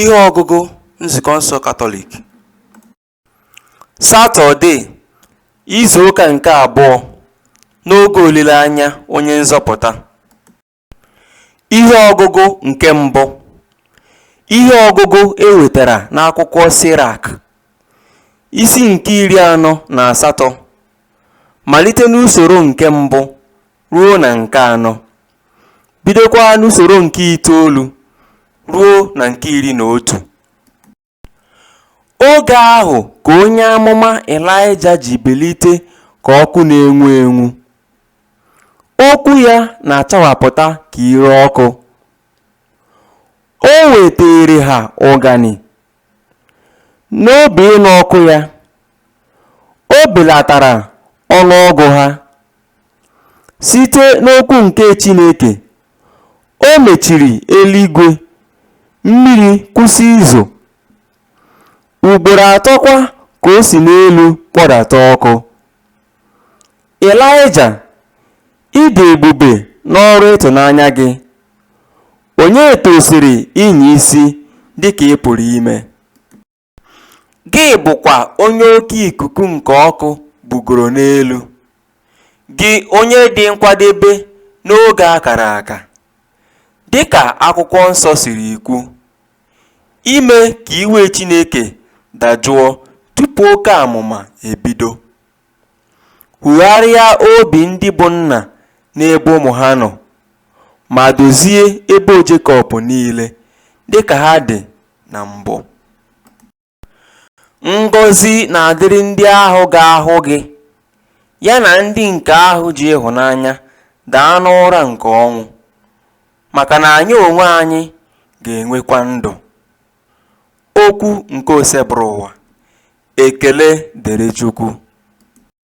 Ihe ọgụgụ Nzukọ nsọ Katọlik Satọde izu ụka nke abụọ n'oge olileanya onye nzọpụta Ihe ọgụgụ nke mbụ Ihe ọgụgụ e wetara n'akwụkwọ Sirak isi nke iri anọ na asatọ malite n'usoro nke mbụ ruo na nke anọ, bidokwa n'usoro nke itoolu ruo na nke iri na otu. Oge ahụ ka onye amụma Ịlaịja ji bilite ka ọkụ na-enwu enwu. Okwu ya na-achawapụta ka ire ọkụ. O wetaara ha ụganị N'obi ịnụ ọkụ ya, o belatara ọnụ ọgụ ha. Site n'okwu nke Chineke, o mechiri eluigwe, mmiri kwụsị izo. Ugboro atọkwa ka o si n'elu kpọdata ọkụ. Ịlaịja, ị dị ebube n'ọrụ ịtụnanya gị, onye tosiri ịnya isi dị ka ị pụrụ ime? Gị bụkwa onye oke ikuku nke ọkụ bugoro n'elu, gị onye dị nkwadebe n'oge a kara aka. Dị ka Akwụkwọ Nsọ siri kwu, ime ka iwe Chineke dajụọ tupu oke amụma ebido. Hugharịa obi ndị bụ nna n'ebe ụmụ ha nọ, ma dozie ebo Jekọb niile dịka ha dị na mbụ. Ngọzi na-adịrị ndị ahụ ga-ahụ gị, ya na ndị nke ahụ ji ịhụnanya daa n'ụra nke ọnwụ, maka na anyị onwe anyị ga-enwekwa ndụ. Okwu nke Osebụrụwa. Ekele dịrị Chukwu.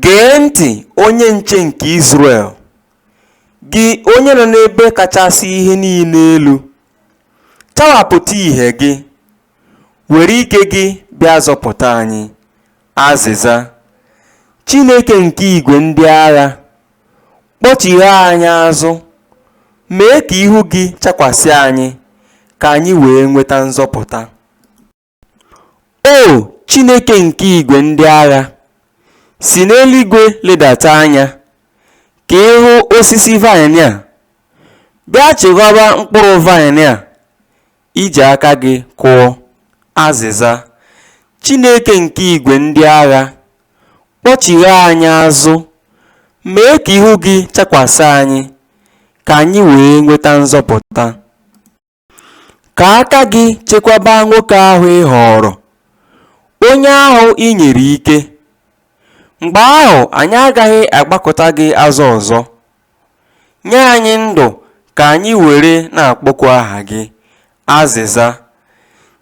Gee ntị, onye nche nke Izrel, gị onye nọ n'ebe kachasị ihe niile elu, chawapụta ihe gị, were ike gị bịa zọpụta anyị. Azịza, Chineke nke igwe ndị agha, kpọchigha anyị azụ, mee ka ihu gị chakwasị anyị, ka anyị wee nweta nzọpụta. O Chineke nke igwe ndị agha, si n'eluigwe ledata anya ka ị hụ osisi vaịnị a, bịa chekwaba mkpụrụ vaịnị a i ji aka gị kụọ. Azịza, Chineke nke igwe ndị agha, kpọchigha anyị azụ, mee ka ihu gị chakwasị anyị, ka anyị wee nweta nzọpụta. Ka aka gị chekwaba nwoke ahụ ị họọrọ, onye ahụ i nyere ike. Mgbe ahụ anyị agaghị agbakụta gị azụ ọzọ. Nye anyị ndụ ka anyị were na-akpọku aha gị. Azịza,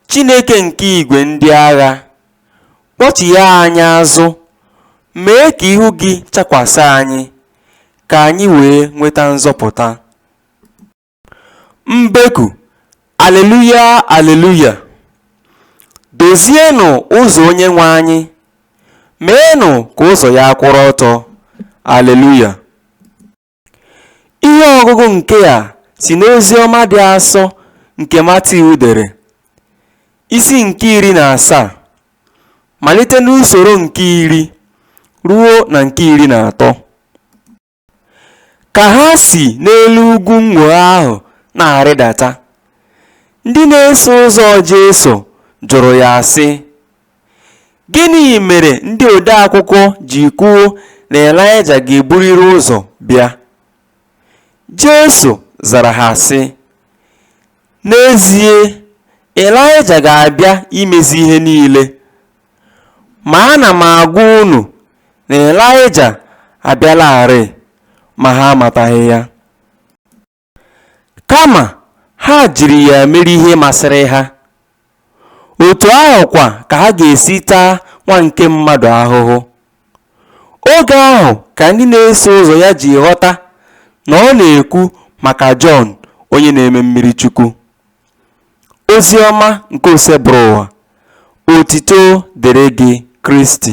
Chineke nke igwe ndị agha, kpọchigha anyị azụ, mee ka ihu gị chakwasị anyị, ka anyị wee nweta nzọpụta. Mbeku, Aleluya, Aleluya! Dozienụ ụzọ Onyenwe anyị, meenụ ka ụzọ ya kwụrụ ọtọ. Aleluya! Ihe ọgụgụ nke a si n'ozi ọma dị asọ nke Matiu dere, isi nke iri na asaa, malite n'usoro nke iri ruo na nke iri na atọ. Ka ha si n'elu ugwu nnwogha ahụ na-arịdata, ndị na-eso ụzọ Jesu jụrụ ya sị, Gịnị mere ndị odeakwụkwọ ji kwuo na Ịlaịja ga-eburịrị ụzọ bịa? Jesu zara ha sị, N'ezie, Ịlaịja ga-abịa imezi ihe niile. Ma ana m agwa unu na Ịlaịja abịalarị, ma ha amataghị ya. Kama ha jiri ya mere ihe masịrị ha. otu ahụ kwa ka ha ga-esi taa Nwa nke mmadụ ahụhụ. Oge ahụ ka ndị na-eso ụzọ ya ji ghọta na ọ na-ekwu maka Jọn onye na-eme mmiri Chukwu. Ozi ọma nke Osebụrụwa, otito dịrị gị Kristi.